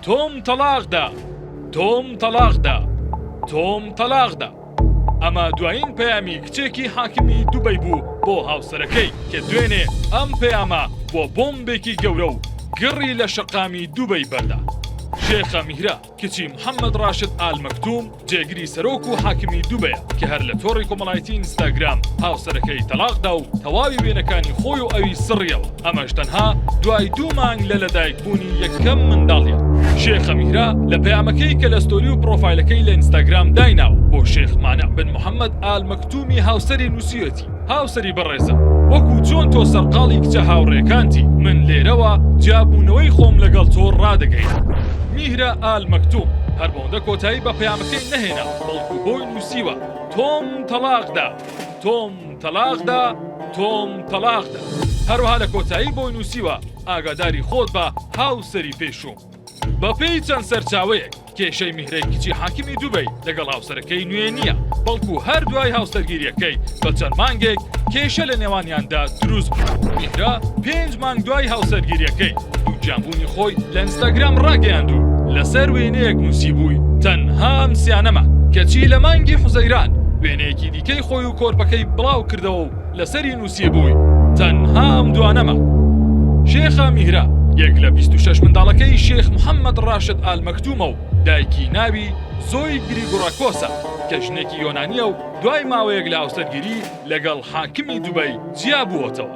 تۆم تەڵاقدا تۆم تەڵاقدا تۆم تەلاقدا ئەمە دوایین پەیامی کچێکی حاکمی دوبەی بوو بۆ هاوسەرەکەی کە دوێنێ ئەم پەیامە بۆ بۆمبێکی گەورە و گڕی لە شەقامی دوبەی بەردا شێخە میرە کچی محەمەد ڕاشد ئال مەکتوم جێگری سەرۆک و حاکمی دوبەیە کە هەر لە تۆڕی کۆمەڵایەتی ئینستاگرام هاوسەرەکەی تەڵاق دا و تەواوی وێنەکانی خۆی و ئەوی سڕیەوە ئەمەش تەنها دوای دوو مانگ لە لەدایک بوونی یەکەم منداڵیان. شێخە میرا لە پەیامەکەی کە لە ستۆری و پرۆفایلەکەی لە ئینستاگرام دایناوە بۆ شێخ مانع بن محەمەد ئال مەکتومی هاوسەری نووسیوێتی، هاوسەری بەڕێزم، وەکو چۆن تۆ سەرقاڵی کچە هاوڕێکانتی، من لێرەوە جیابوونەوەی خۆم لەگەڵ تۆ ڕادەگەیەنم. میهرە ئال مەکتوم هەر بەوەندە کۆتایی بە پەیامەکەی نەهێنا، بەڵکو بۆی نووسیوە، تۆم تەڵاق دا، تۆم تەڵاق دا، تۆم تەڵاق دا. هەروەها لە کۆتایی بۆی نووسیوە، ئاگاداری خۆت بە، هاوسەری پێشووم. بەپێی چەند سەرچاوەیەک کێشەی میهرەی کچی حاکمی دوبەی لەگەڵ هاوسەرەکەی نوێ نییە بەڵکو هەر دوای هاوسەرگیریەکەی بە چەند مانگێک کێشە لە نێوانیاندا دروست میهرە پێنج مانگ دوای هاوسەرگیریەکەی دووگیانبوونی خۆی لە ئینستاگرام ڕاگەیاند و لەسەر وێنەیەک نووسی بووی تەنهام سیانەمە کەچی لە مانگی حوزەیران وێنەیەکی دیکەی خۆی و کۆرپەکەی بڵاو کردەوە و لەسەری نووسیبووی تەنها ئەم دوانەمە. شێخە میهرە یەک لە بیست و شەش منداڵەکەی شێخ محەمەد ڕاشد ئال مەکتومە و دایکی ناوی زۆی گریگوراکۆسە کە ژنێکی یۆنانیە و دوای ماوەیەک لە هاوسەرگیری لەگەڵ حاکمی دوبەی جیابووەتەوە.